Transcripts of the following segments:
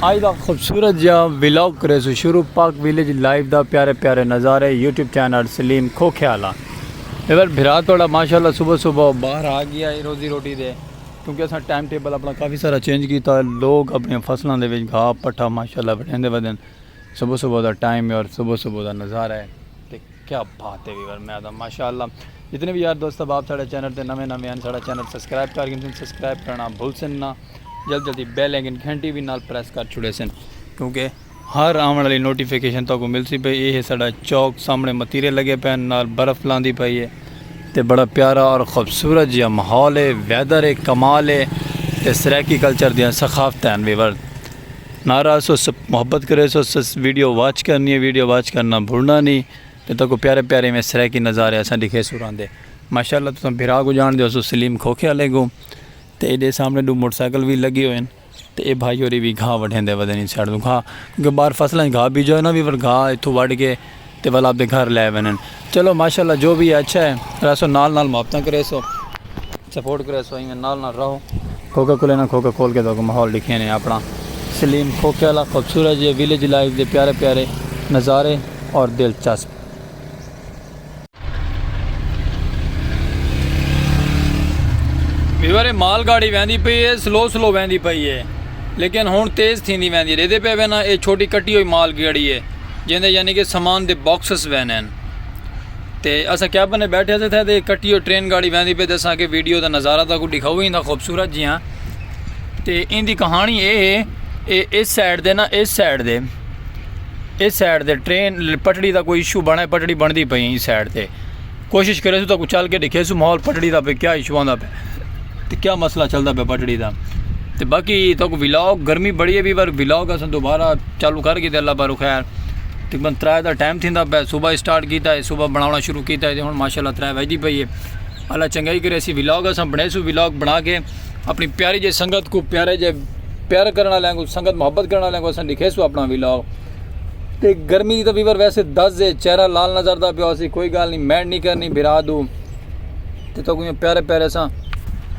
آج دا خوبصورت جیا ولاگ کریسوں شروع پاک ویلیج لائیو دا پیارے پیارے نظارے یوٹیوب چینل سلیم کھوکھے آلا ایور بھرا توڑا ماشاءاللہ صبح صبح باہر آ گیا ہے روزی روٹی دے کیونکہ اساں ٹائم ٹیبل اپنا کافی سارا چینج کیتا ہے لوگ اپنے فصلوں دے وچ گھا پٹھا ماشاءاللہ بڑھیں دے ودن صبح صبح دا ٹائم ہے اور صبح صبح دا نظارہ ہے کیا بات ہے ویور میں آدھا ماشاءاللہ جتنے بھی یار دوست احباب ساڑھے چینل تے نویں نویں ہیں ساڑھا چینل سبسکرائب کر گھن سن سبسکرائب کرنا بھول سن نہ جلد جلدی بیل آئیکن گھنٹی بھی نال پریس کر چھڑے سن کیونکہ ہر آون والی نوٹیفیکیشن تو کو مل سی پئی اے ہے ساڑھا چوک سامنے متیرے لگے پین نال برف لاندی پئی ہے تے بڑا پیارا اور خوبصورت جیا ماحول ہے ویدر ہے کمال ہے تے سرائیکی کلچر دیاں ثقافت ہیں ویور ناراض سو سب محبت کرے سو سس ویڈیو واچ کرنی ہے ویڈیو واچ کرنا بھولنا نہیں تے تکو پیارے پیارے میں سرے کی نظارے اساں دکھے سوران دے ماشاءاللہ تساں بھرا کو جان دیو سو سلیم کھوکھے والے کو تے ایڈے سامنے دو موٹر سائیکل بھی لگے ہوئے تے اے بھائی ہوری بھی گھا وڈھیں دے ودے نہیں سیاڑ دو گھا کیونکہ باہر فصلیں گھا بیجو ہے نا بھی گھا اتھو وڈھ کے تے ول آپدے گھر لے ونن چلو ماشاءاللہ جو وی ہے اچھا ہے رہسو نال نال محبتاں کریسو سپورٹ کریسو ایویں نال نال رہو کوکا کولے نہ کوکا کول کے تو ماحول ڈکھے نے اپنا سلیم کھوکھے والا خوبصورت جے ویلیج لائف دے پیارے پیارے نظارے اور دلچسپ ویورے مال گاڑی ویندی پئی ہے سلو سلو ویندی پئی ہے لیکن ہن تیز تھیندی ویندی ڈیدے پے وینا اے چھوٹی کٹی ہوئی مال گاڑی ہے جیندے یعنی کہ سامان دے باکسز وینن تے اسا کیا بنے بیٹھے تھے تھے تے کٹی ہوئی ٹرین گاڑی ویندی پے دسا کہ ویڈیو دا نظارہ تھا کو دکھاؤ ہی نہ خوبصورت جی ہاں تے ایندی کہانی اے ہے اے اس سائیڈ دے نا اس سائیڈ دے اے سائیڈ تے ٹرین پٹڑی دا کوئی ایشو بنڑا ہے پٹڑی بنڑدی پئی ایں سائیڈ تے کوشش کریسو تو چل کے ڈکھیسو ماحول پٹڑی دا پہ کیا ایشو آندا پہ تے کیا مسئلہ چلدا پہ پٹڑی دا تے باقی تو کو ولاگ گرمی بڑی ہے بھی بار ولاگ اساں دوبارہ چالو کر گئے تے اللہ بارو خیر تقریبا ترائے دا ٹائم تھیندا پہ صبح سٹارٹ کیتا ہے صبح بناونا شروع کیتا ہے تے ہن ماشاءاللہ ترائے وجدی پئی ہے اللہ چنگائی کرے اسی ولاگ اساں بنڑیسو ولاگ بنڑا کے اپݨی پیاری جے سنگت کوں پیارے جے پیار کرݨ آلیاں کوں سنگت محبت کرݨ آلیاں کوں اساں ݙیکھیسوں اپݨا ولاگ تے گرمی دی تاں ویور ویسے دز ہے چہرہ لال نظر دا پیا ہوسی کوئی گال نہیں مینڈ نہیں کرنی بھرا دو تے تو کوئی پیارے پیارے اساں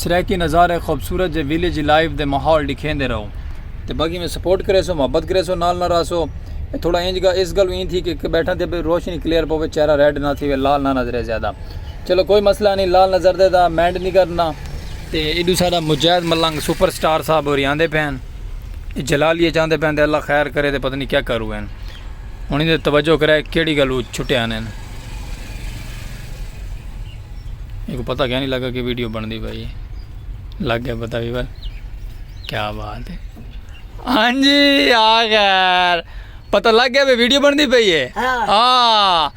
سرائیکی نظارے خوبصورت جے ویلیج لائف دے ماحول ݙیکھیندے رہو تے باقی میں سپورٹ کرے سو محبت کرے سو نال نہ رہ سو تھوڑا انج گا اس گل ایں تھی کہ بیٹھا تے روشنی کلیئر پوے چہرہ ریڈ نہ تھی لال نہ نظرے زیادہ چلو کوئی مسئلہ نہیں لال نظر دے دا مینڈ نہیں کرنا تے ایڈو سارا مجاہد ملنگ سپر سٹار صاحب اور یہاں دے پہن جلالیہ جہاں دے پہن دے اللہ خیر کرے دے پتہ نہیں کیا کرو ہیں انہیں دے توجہ کرے کیڑی گلو چھٹے آنے ہیں ایک پتہ کیا نہیں لگا کہ ویڈیو بن دی بھائی لگ گیا پتہ بھی بھائی کیا بات ہے ہاں جی آخر پتہ لگ گیا بھی ویڈیو بن دی بھائی ہے ہاں, ہاں۔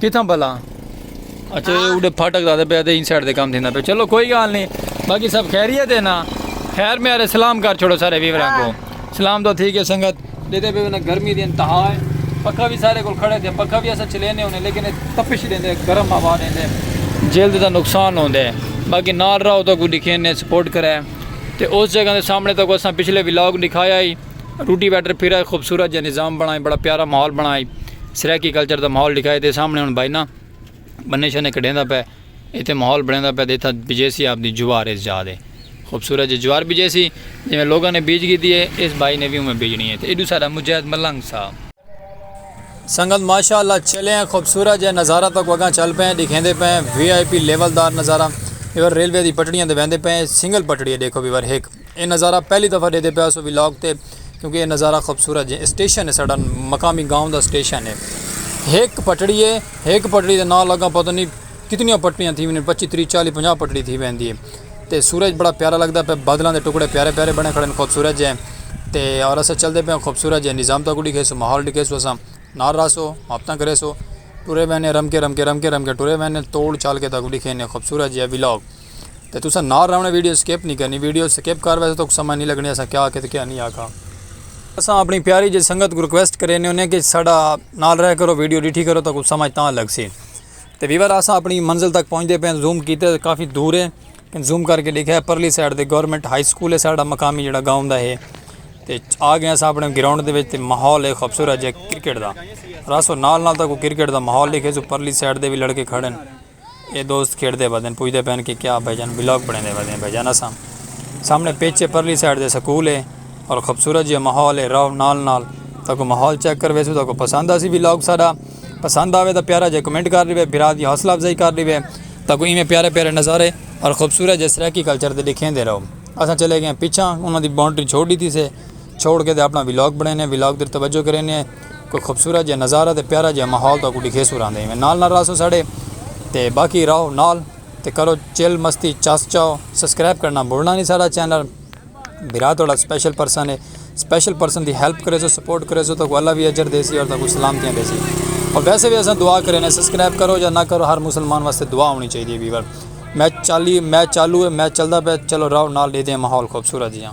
کتھاں بھلا اچھا اوڈے پھاٹک دادے پہ دے انسائیڈ دے کام تھیندا پہ چلو کوئی گال نہیں باقی سب خیریت ہے نا خیر میرے سلام کر چھوڑو سارے ویوراں کو سلام تو ٹھیک ہے سنگت دیتے پہ گرمی دی انتہا ہے پکھا بھی سارے کو کھڑے تھے پکھا بھی ایسا چلینے ہونے لیکن تپش دیندے گرم ہوا دیندے جلد دا نقصان ہوندے باقی نال رہو تو کوئی دکھینے سپورٹ کرے تے اس جگہ دے سامنے تو کو اساں پچھلے ولاگ دکھایا ہی روٹی ویٹر پھرا ہے خوبصورت جا نظام بنا ہے بڑا پیارا ماحول بنا ہے سرائیکی کلچر دا ماحول لکھا ہے تے سامنے ہن بھائی نا بنے شنے کڈیندا پے ایتھے ماحول بنیندا پے دیتھا بجیسی آپ دی جوار اس جا دے خوبصورت جی جوار بجیسی جویں لوگاں نے بیج گیتی ہے اس بھائی نے بھی اوویں بیجنی ہے تے ایڈو سارا مجاہد ملنگ سا سنگت ماشاءاللہ چلے ہیں خوبصورت جے نظارہ تک وگاں چل پے ہیں دکھیندے پے ہیں وی آئی پی لیول دار نظارہ ایور ریلوے دی پٹڑیاں دے ویندے پے ہیں سنگل پٹڑی ہے دیکھو ویور ہک اے نظارہ پہلی دفعہ ڈیدے پیا سو ولاگ تے کیونکہ اے نظارہ خوبصورت جے اسٹیشن ہے ساڈا مقامی گاؤں دا اسٹیشن ہے ہک پٹڑی ہے ہک پٹڑی دے نال اگاں پتہ نہیں کتنیاں پٹڑیاں تھی ویندین پچی تری چالی پنجاہ پٹڑی تھی ویندی ہے تے سورج بڑا پیارا لگدا پیا بادلاں دے ٹکڑے پیارے پیارے بنے کھڑے خوبصورت جے تے اور اساں چلدے پیاں خوبصورت جے نظام تہاکوں ڈکھیسو ماحول ڈکھیسو اساں نال رہسو محبتاں کریسو ٹرے ویندے رم کے رم کے رم کے رم کے ٹرے ویندے توڑ چال کے تہاکوں ڈکھینے خوبصورت جے ولاگ تے تساں نال رہوݨے ویڈیو سکپ نی کرنی ویڈیو سکپ کر ویسے توک سمجھ نی لگݨی اساں کیا آکھے تے کیا نی آکھا۔ اساں اپݨی پیاری جیہڑی سنگت کوں ریکویسٹ کرینے ہونے کہ ساڈا نال رہ کرو ویڈیو ݙٹھی کرو توکوں سمجھ تاں لڳسی۔ تے ویور اساں اپݨی منزل تک پہنچدے پئے آں زوم کیتے تے کافی دور ہے کن زوم کر کے ݙیکھیا پرلی سائیڈ تے گورنمنٹ ہائی سکول ہے ساڈا مقامی جیہڑا گاؤں دا ہے تے آ گئے اساں اپݨے گراؤنڈ دے وچ تے ماحول ہے خوبصورت جیہا کرکٹ دا راسو نال نال تاکوں کرکٹ دا ماحول ݙیکھیسوں پرلی سائیڈ دے وی لڑکے کھڑے ہن۔ اے دوست کھیڈدے ودن پچھدے پن کہ کیا بھائی جان ولاگ بنڑیندے ودیں بھائی جان اساں سامنے پچ اے پرلی سائیڈ دے سکول اے اور خوبصورت جیہا ماحول اے رہو نال نال تاکوں ماحول چیک کر ویسو تاکوں پسند آسی ولاگ ساڈا پسند آوے تاں پیارا جیہا کمنٹ کر ڈیوے بھرا دی حوصلہ افزائی کر ڈیوے تاکوں ایویں پیارے پیارے نظارے اور خوبصورت جیہے سرائیکی کلچر دے ڈکھیندے رہو اساں چلے گئے ہیں پچھاں انہاں دی باؤنڈری چھوڑ ڈتی سے چھوڑ کے تے اپنا ولاگ بنڑینے ولاگ تے توجہ کرینے۔ کوئی خوبصورت جیہا نظارہ تے پیارا جیہا ماحول تہاکوں ڈکھیسوں راہندے ایویں نال نال راہسوں ساڈے تے باقی راہو نال تے کرو چل مستی چس چاؤ سسکرائب کرنا بھلنا نی ساڈا چینل بھرا تہاڈا اسپیشل پرسن ہے اسپیشل پرسن دی ہیلپ کریسو سپورٹ کریسو تہاکوں اللہ وی اجر دیسی اور تہاکوں سلامتیاں دیسی اور ویسے وی اساں دعا کرینے سسکرائب کرو یا نہ کرو ہر مسلمان واسطے دعا ہونی چاہیدی ہے ویور میچ چالی میچ چالو ہے میچ چلدا پیا چلو راہو نال ڈیدے ہیں ماحول خوبصورت جیہا۔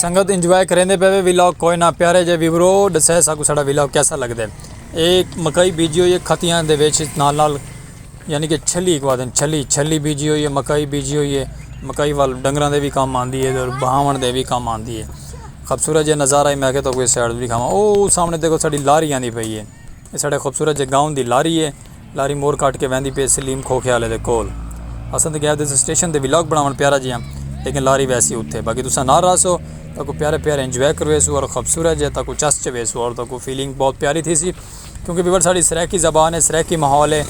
سنگت انجوائے کریندے پے وے ویلاگ کوئے نہ پیارے جے ویورو ڈسے ساکو ساڈا ویلاگ کیسا لگ دے اے مکئی بیجی ہوئی ہے کھتیاں دے ویچ نال نال یعنی کہ چھلی کو آدن چھلی چھلی بیجی ہوئی ہے مکئی بیجی ہوئی ہے مکئی وال ڈنگران دے بھی کام آن دی ہے اور بہاون دے بھی کام آن دی ہے خبصورت جے نظارہ ہے میں کہ تو کوئی سیڈ بھی کھاما او سامنے دیکھو ساڈی لاری آن دی پئی ہے ساڈے خبصورت جے گاؤں دی لاری ہے. لاری موڑ کٹ کے ویندی پئی سلیم کھوکھے آلے دے کول۔ اساں تے گئے دس سٹیشن تے ولاگ بناون پیارا جیاں لیکن لاری ویسی اتھے باقی تساں نال رہسو تاکوں پیارے پیارے انجوائے کرویسو اور خوبصورت جیاں تاکوں چس چویسو اور تاکوں فیلنگ بہت پیاری تھیسی کیونکہ ویور ساڑی سرائیکی زبان ہے سرائیکی ماحول ہے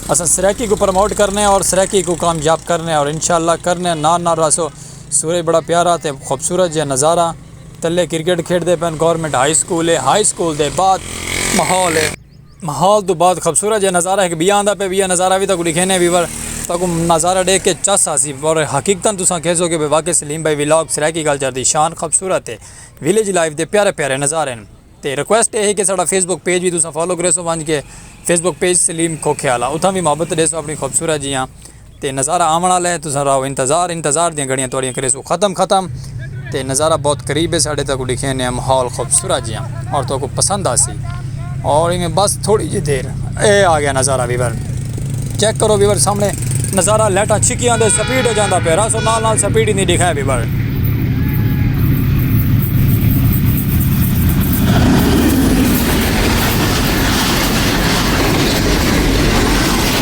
اساں سرائیکی کو پروموٹ کرنے اور سرائیکی کو کامیاب کرنے اور انشاءاللہ کرنے نال نال رہسو سورج بڑا پیارا تے خوبصورت جیاں نظارہ تلے کرکٹ کھیڈ دے پن گورنمنٹ ہائی سکول ہے ہائی سکول دے بعد ماحول ہے۔ ماحول توں بعد خبصورت جیہا نظارہ ہک بیا آندا پے وی ہے نظارہ وی تاکوں ڈیکھینے وی ور تاکوں نظارہ ڈیکھ کے چس آسی پر حقیقتا تساں کہسو کہ واقعی سلیم بھائی ولاگ سرائیکی کلچر دی شان خبصورت ہے ولیج لائف دے پیارے پیارے نظارے ہن تے ریکویسٹ اے ہے کہ ساڈا فیس بک پیج وی تساں فالو کریسو ونج کے فیس بک پیج سلیم کھوکھے آلا اتھاں وی محبت ڈیسو اپنی خبصورت جیہاں تے نظارہ آوݨ آلا ہے تساں رہو انتظار انتظار دیاں گھڑیاں تہاݙیاں کریسوں ختم ختم تے نظارہ بہت قریب ہے ساݙے تہاکوں ݙکھیندے ہاں ماحول خوبصورت جیاں اور تہاکوں پسند آسی اور ایویں بس تھوڑی جی دیر اے آگیا نظارہ ویور چیک کرو ویور سامݨے نظارہ لائٹاں چھکیاں دے سپیڈ ہو جاندا پیا راسو نال نال سپیڈ ہی نہیں ݙکھائے ویور